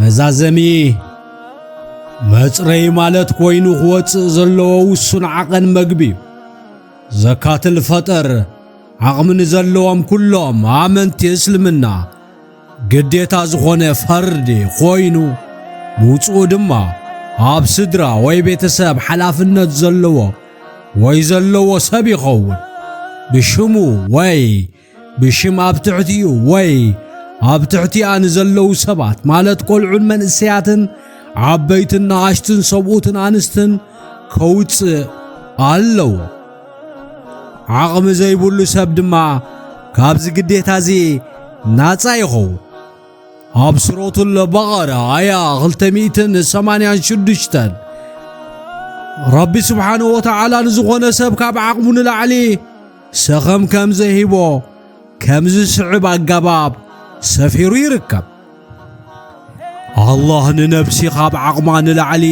መዛዘሚ መጽረይ ማለት ኮይኑ ክወጽእ ዘለዎ ውሱን ዓቐን መግቢ እዩ። ዘካትል ፈጠር ዓቕሚ ንዘለዎም ኩሎም ኣመንቲ እስልምና ግዴታ ዝኾነ ፈርዲ ኮይኑ ምውጽኡ ድማ ኣብ ስድራ ወይ ቤተሰብ ሓላፍነት ዘለዎ ወይ ዘለዎ ሰብ ይኸውን ብሽሙ ወይ ብሽም ኣብ ትሕቲኡ ወይ ኣብ ትሕቲኣ ንዘለዉ ሰባት ማለት ቈልዑን መንእሰያትን ዓበይትን ንኣሽትን ሰብኡትን ኣንስትን ከውጽእ ኣለዎ። ዓቕሚ ዘይብሉ ሰብ ድማ ካብዚ ግዴታ እዚ ናጻ ይኸውን። ኣብ ስሮቱል በቐረ ኣያ 286 ረቢ ስብሓንሁ ወተዓላ ንዝኾነ ሰብ ካብ ዓቕሙ ንላዕሊ ሰኸም ከም ዘይህቦ ከም ዝስዕብ ኣገባብ ሰፊሩ ይርከብ። ኣላህ ንነብሲ ኻብ ዓቕማ ንላዕሊ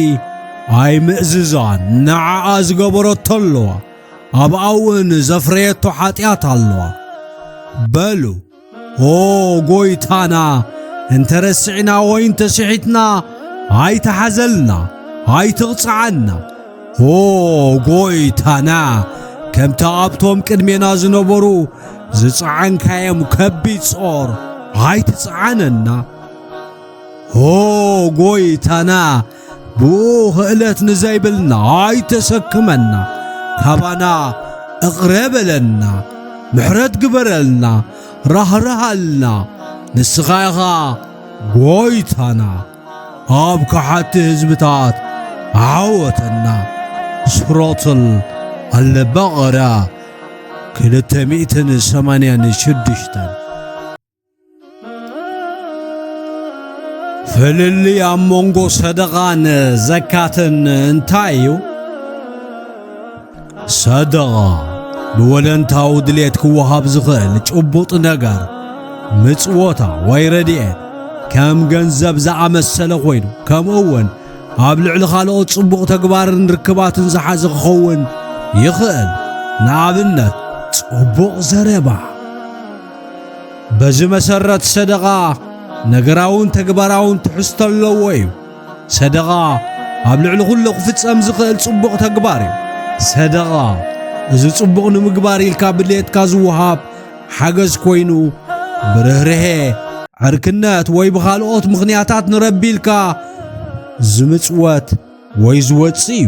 ኣይምእዝዛን፣ ንዓኣ ዝገበረቶ ኣለዋ፣ ኣብኣ እውን ዘፍረየቶ ሓጢኣት ኣለዋ በሉ። ኦ ጐይታና፣ እንተ ረሲዕና ወይ እንተ ስሒትና ኣይትሓዘልና፣ ኣይትቕጽዓና። ኦ ጐይታና፣ ከምቲ ኣብቶም ቅድሜና ዝነበሩ ዝጸዓንካዮም ከቢድ ጾር ኣይትጽዓነና። ኦ ጐይታና ብኽእለት ንዘይብልና ኣይተሰክመና ካባና እቕረ በለና ምሕረት ግበረልና ራህርሃልና ንስኻ ኢኻ ጎይታና ኣብ ከሓቲ ህዝብታት ዓወተና ስሮትል ኣለበቐራ ክልተ ሚእትን ሰማንያን ሽዱሽተን ፍልልይ ኣብ መንጎ ሰደቓን ዘካትን እንታይ እዩ? ሰደቓ ብወለንታዊ ድሌት ክወሃብ ዝኽእል ጭቡጥ ነገር ምጽወታ ወይ ረድኤት ከም ገንዘብ ዝኣመሰለ ኮይኑ ከምኡ እውን ኣብ ልዕሊ ካልኦት ጽቡቕ ተግባርን ርክባትን ዝሓዘ ክኸውን ይኽእል። ንኣብነት ጽቡቕ ዘረባ በዚ መሰረት ሰደቓ ነገራውን ተግባራውን ትሕዝቶ ኣለዎ እዩ። ሰደቓ ኣብ ልዕሊ ኩሉ ክፍጸም ዝኽእል ጽቡቕ ተግባር እዩ። ሰደቓ እዚ ጽቡቕ ንምግባር ኢልካ ብድሌትካ ዝወሃብ ሓገዝ ኮይኑ ብርህርሄ ዕርክነት ወይ ብኻልኦት ምኽንያታት ንረቢ ኢልካ ዝምጽወት ወይ ዝወጽእ እዩ።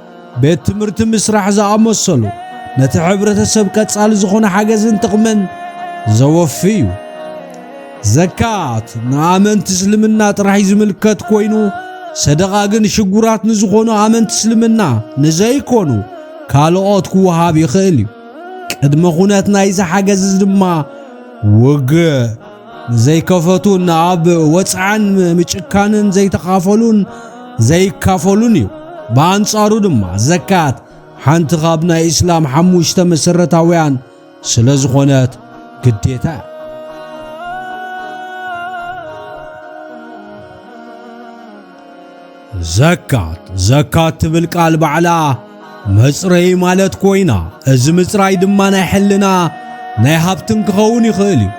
ቤት ትምህርቲ ምስራሕ ዝኣመሰሉ ነቲ ሕብረተሰብ ቀጻሊ ዝኾነ ሓገዝን ጥቕምን ዘወፊ እዩ። ዘካት ንኣመንቲ እስልምና ጥራሕ እዩ ዝምልከት ኮይኑ ሰደቓ ግን ሽጉራት ንዝኾኑ ኣመንቲ እስልምና ንዘይኮኑ ካልኦት ክወሃብ ይኽእል እዩ። ቅድመ ኹነት ናይዚ ሓገዝ ድማ ውግእ ዘይከፈቱን ኣብ ወጽዓን ምጭካንን ዘይተኻፈሉን ዘይካፈሉን እዩ ብኣንጻሩ ድማ ዘካት ሓንቲ ካብ ናይ እስላም ሓሙሽተ መሰረታውያን ስለ ዝኾነት ግዴታ እያ ዘካት ዘካት ትብል ቃል ባዕላ መጽረዪ ማለት ኮይና እዚ ምጽራይ ድማ ናይ ሕልና ናይ ሃብትን ክኸውን ይኽእል እዩ።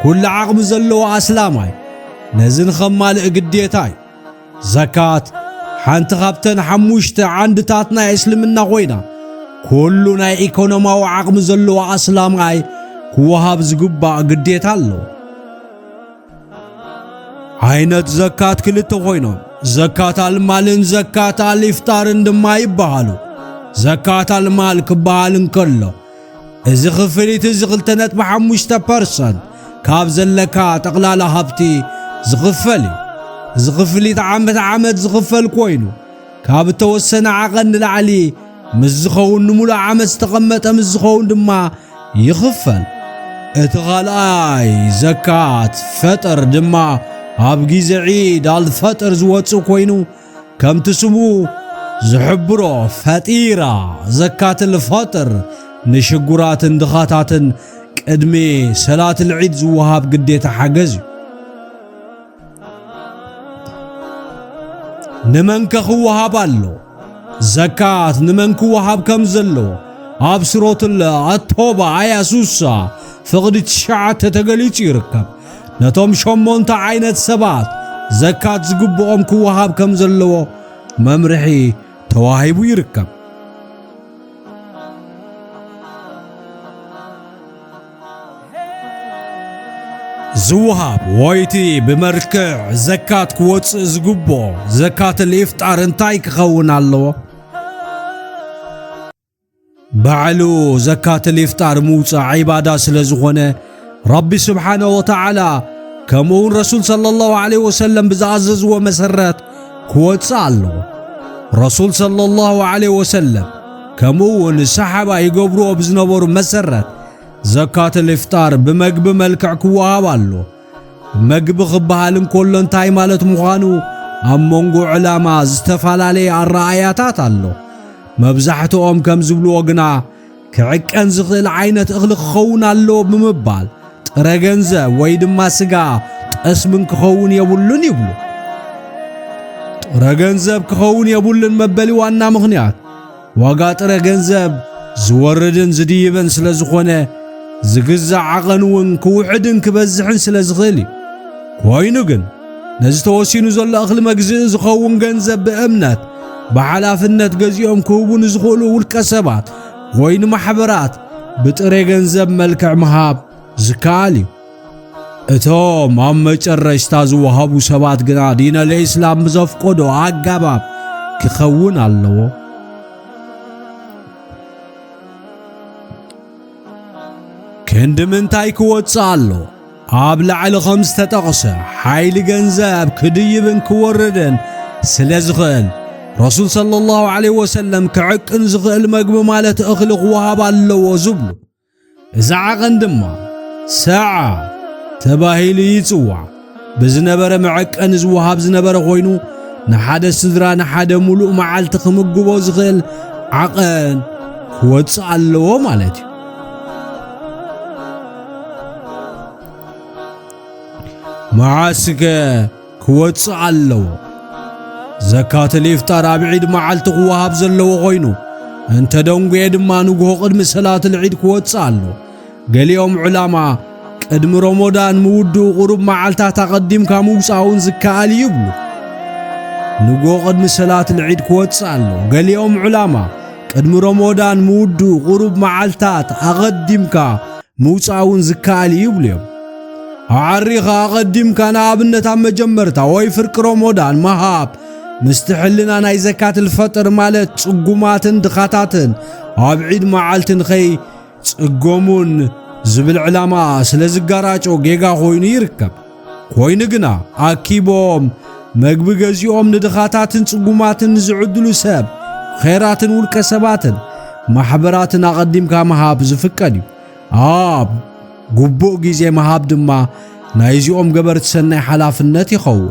ኩሉ ዓቕሚ ዘለዎ ኣስላማይ ነዚ ንኸማልእ ግዴታ እዩ። ዘካት ሓንቲ ካብተን ሓሙሽተ ዓንድታት ናይ እስልምና ኮይና ኩሉ ናይ ኢኮኖማዊ ዓቕሚ ዘለዎ ኣስላማይ ክወሃብ ዝግባእ ግዴታ ኣለዎ። ዓይነት ዘካት ክልተ ኮይኖም ዘካት ኣልማልን ዘካት ኣልኢፍጣርን ድማ ይበሃሉ። ዘካት ኣልማል ክበሃል እንከሎ እዚ ክፍሊት እዚ 2.5 ፐርሰንት ካብ ዘለካ ጠቕላላ ሃብቲ ዝኽፈል እዩ። እዚ ክፍሊት ዓመት ዓመት ዝኽፈል ኮይኑ ካብ እተወሰነ ዓቐን ንላዕሊ ምስ ዝኸውን ንምሉእ ዓመት ዝተቐመጠ ምስ ዝኸውን ድማ ይኽፈል። እቲ ኻልኣይ ዘካት ፈጥር ድማ ኣብ ግዜ ዒድ ኣልፈጥር ዝወጽእ ኮይኑ ከምቲ ስሙ ዝሕብሮ ፈጢራ ዘካት ልፈጥር ንሽጉራትን ድኻታትን ቅድሚ ሰላት ልዒድ ዝወሃብ ግዴታ ሓገዝ እዩ። ንመን ከ ክወሃብ ኣሎ ዘካት ንመን ክወሃብ ከም ዘለዎ ኣብ ስሮትለ ኣቶባ ኣያ ሱሳ ፍቕዲ ትሽዓተ ተገሊጹ ይርከብ ነቶም ሸሞንተ ዓይነት ሰባት ዘካት ዝግብኦም ክወሃብ ከም ዘለዎ መምርሒ ተዋሂቡ ይርከብ ዝወሃብ ወይቲ ብመልክዕ ዘካት ክወፅእ ዝግብኦ ዘካት ልኢፍጣር እንታይ ክኸውን ኣለዎ? ባዕሉ ዘካት ልኢፍጣር ምውፃእ ዒባዳ ስለ ዝኾነ ረቢ ስብሓነ ወተዓላ ከምኡውን ረሱል ሰለላሁ ዐለይሂ ወሰለም ብዝኣዘዝዎ መሰረት ክወጽእ ኣለዎ ረሱል ሰለላሁ ዐለይሂ ወሰለም ከምኡ እውን ሰሓባ ይገብርዎ ብዝነበሩ መሰረት ዘካት ልፍጣር ብመግቢ መልክዕ ክወሃብ ኣሎ መግቢ ክበሃል እንከሎ እንታይ ማለት ምዃኑ ኣብ መንጎ ዕላማ ዝተፈላለየ ኣረኣያታት ኣሎ መብዛሕትኦም ከም ዝብልዎ ግና ክዕቀን ዝኽእል ዓይነት እኽሊ ክኸውን ኣለዎ ብምባል ጥረ ገንዘብ ወይ ድማ ስጋ ጠስምን ክኸውን የብሉን ይብሉ። ጥረ ገንዘብ ክኸውን የብሉን መበሊ ዋና ምኽንያት ዋጋ ጥረ ገንዘብ ዝወርድን ዝድይብን ስለ ዝኾነ ዝግዛእ ዓቐን እውን ክውሕድን ክበዝሕን ስለ ዝኽእል እዩ። ኮይኑ ግን ነዚ ተወሲኑ ዘሎ እኽሊ መግዝኢ ዝኸውን ገንዘብ ብእምነት ብሓላፍነት ገዚኦም ክህቡ ንዝኽእሉ ውልቀ ሰባት ወይ ንማሕበራት ብጥሬ ገንዘብ መልክዕ ምሃብ ዝከኣል እዩ። እቶም ኣብ መጨረሽታ ዝወሃቡ ሰባት ግና ዲነል ኢስላም ብዘፍቆዶ ኣገባብ ክኸውን ኣለዎ። ክንዲ ምንታይ ክወጽእ ኣሎ? ኣብ ላዕሊ ኸም ዝተጠቕሰ ሓይሊ ገንዘብ ክድይብን ክወርድን ስለ ዝኽእል ረሱል ሰለላሁ ዐለይሂ ወሰለም ክዕቅን ዝኽእል መግቢ ማለት እኽሊ ክወሃብ ኣለዎ ዝብሉ እዚ ዓቐን ድማ ሰዓ ተባሂሉ ይጽዋዕ ብዝነበረ መዐቀኒ ዝወሃብ ዝነበረ ኮይኑ ንሓደ ስድራ ንሓደ ሙሉእ መዓልቲ ክምግቦ ዝኽእል ዓቐን ክወጽእ ኣለዎ ማለት እዩ መዓስከ ክወጽእ ኣለዎ ዘካት ልኢፍጣር ኣብ ዒድ መዓልቲ ክወሃብ ዘለዎ ኾይኑ እንተ ደንጉየ ድማ ንግሆ ቅድሚ ሰላት ልዒድ ክወጽእ ኣሎ ገሊኦም ዕላማ ቅድሚ ሮሞዳን ምውድኡ ቁሩብ መዓልታት ኣቐዲምካ ምውጻእውን ዝከኣል እዩ ይብሉ ንግሆ ቅድሚ ሰላት ልዒድ ክወጽእ ኣሎ ገሊኦም ዕላማ ቅድሚ ሮሞዳን ምውድኡ ቁሩብ መዓልታት ኣቐዲምካ ምውጻእ እውን ዝከኣል እዩ ይብሉ እዮም። ኣዓሪኻ ኣቐዲምካ ንኣብነት ኣብ መጀመርታ ወይ ፍርቂ ሮሞዳን ምሃብ ምስቲ ሕልና ናይ ዘካት ልፈጥር ማለት ጽጉማትን ድኻታትን ኣብ ዒድ መዓልቲ ንኸይ ጽገሙን ዝብል ዕላማ ስለ ዝጋራጮ ጌጋ ኮይኑ ይርከብ። ኮይኑ ግና ኣኪቦም መግቢ ገዚኦም ንድኻታትን ጽጉማትን ዝዕድሉ ሰብ ኼራትን ውልቀ ሰባትን ማሕበራትን ኣቐዲምካ ምሃብ ዝፍቀድ እዩ። ኣብ ግቡእ ግዜ ምሃብ ድማ ናይዚኦም ገበርቲ ሰናይ ሓላፍነት ይኸውን።